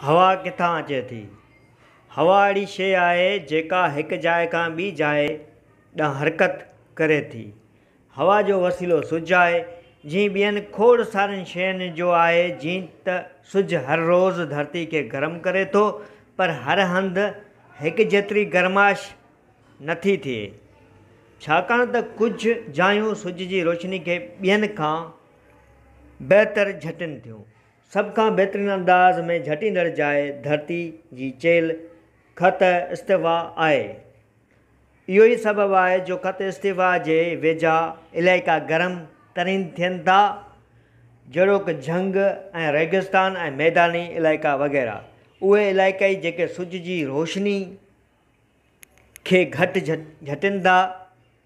هوا ڪٿان اچي ٿي؟ هوا اهڙي شيء آهي جيڪا هڪ جاء کان ٻي جاء ڏانهن حرڪت ڪري ٿي. هوا جو وسيلو سج آهي، جيئن ٻين کوڙ سارين شين جو آهي، جيئن ته سج هر روز ڌرتي کي گرم ڪري ٿو، پر هر هنڌ هڪ جيتري گرمائش نه ٿي ٿئي، ڇاڪاڻ ته ڪجهه جايون سج جي روشني کي ٻين کان بهتر جهٽين ٿيون. سڀ کان بهترين انداز ۾ جهٽيندڙ جاء ڌرتي جي چيلهه، خط استوا، آهي. اهو ئي سبب آهي جو خط استوا جي ويجها علائقا گرم ترين ٿين ٿا، جهڙوڪ جهنگ ۽ ريگستان ۽ ميداني علائقا وغيره. اهي علائقائي جيڪي سج جي روشني کي گهٽ جهٽين ٿا،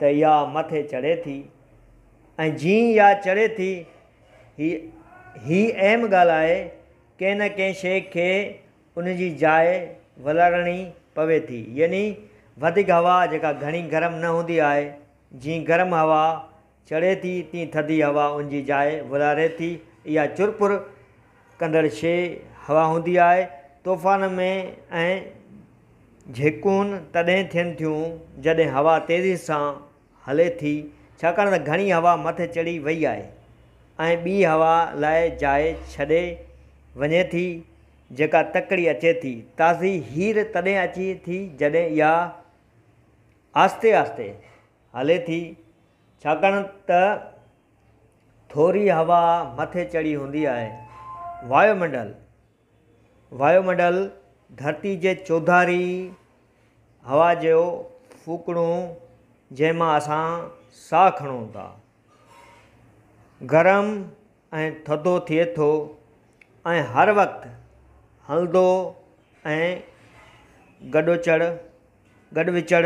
ته يا مٿي چڙهي ٿي ۽ جيئن يا چڙهي ٿي هي هي اهم ڳالهه آهي ڪنهن نه ڪنهن شيء کي ان جي جاء ولارڻي پوي ٿي يعني وڌيڪ هوا جيڪا گهڻي گرم نه هوندي آهي جيئن گرم هوا چڙهي ٿي تيئن ٿڌي هوا ان جي جاء ورهاري ٿي. اها چرپر ڪندڙ شيء هوا هوندي آهي. طوفان ۾ اهي جهڪون تڏهن ٿين ٿيون جڏهن هوا تيزي سان هلي ٿي ڇاڪاڻ ته گهڻي هوا مٿي چڙهي وئي آهي ۽ ٻي هوا لاء جاء ڇڏي وڃي ٿي جيڪا تڪڙي اچي ٿي. تازي هير تڏهن اچي ٿي جڏهن اها آهستي آهستي. هلي ٿي، ڇاڪاڻ ته ٿوري هوا مٿي چڙهي هوندي آهي. وايو منڊل، وايو منڊل ڌرتي جي چوڌاري هوا جو ڦوڪڻو جنهن مان اسان ساهه کڻون ٿا. گرم ۽ ٿڌو ٿئي ٿو ۽ هر وقت هلندو ۽ گڏوچڙ گڏ وچڙ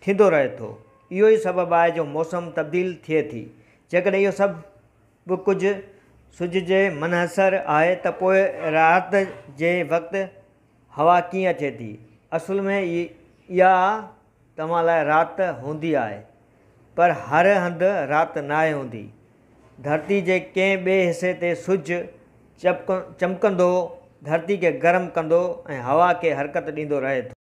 ٿيندو رهي ٿو. اهو ئي سبب آهي جو موسم تبديل ٿئي ٿي. جيڪڏهن اهو سڀ ڪجهه سج جي منحصر آهي ته پوء رات جي وقت هوا ڪيئن اچي ٿي؟ اصل ۾ اها توهان لاء رات هوندي آهي پر هر هنڌ رات ناهي هوندي. ڌرتي جي ڪنهن ٻئي حصي تي سج چمڪندو ڌرتي کي گرم ڪندو ۽ هوا کي حرڪت ڏيندو رهي ٿو.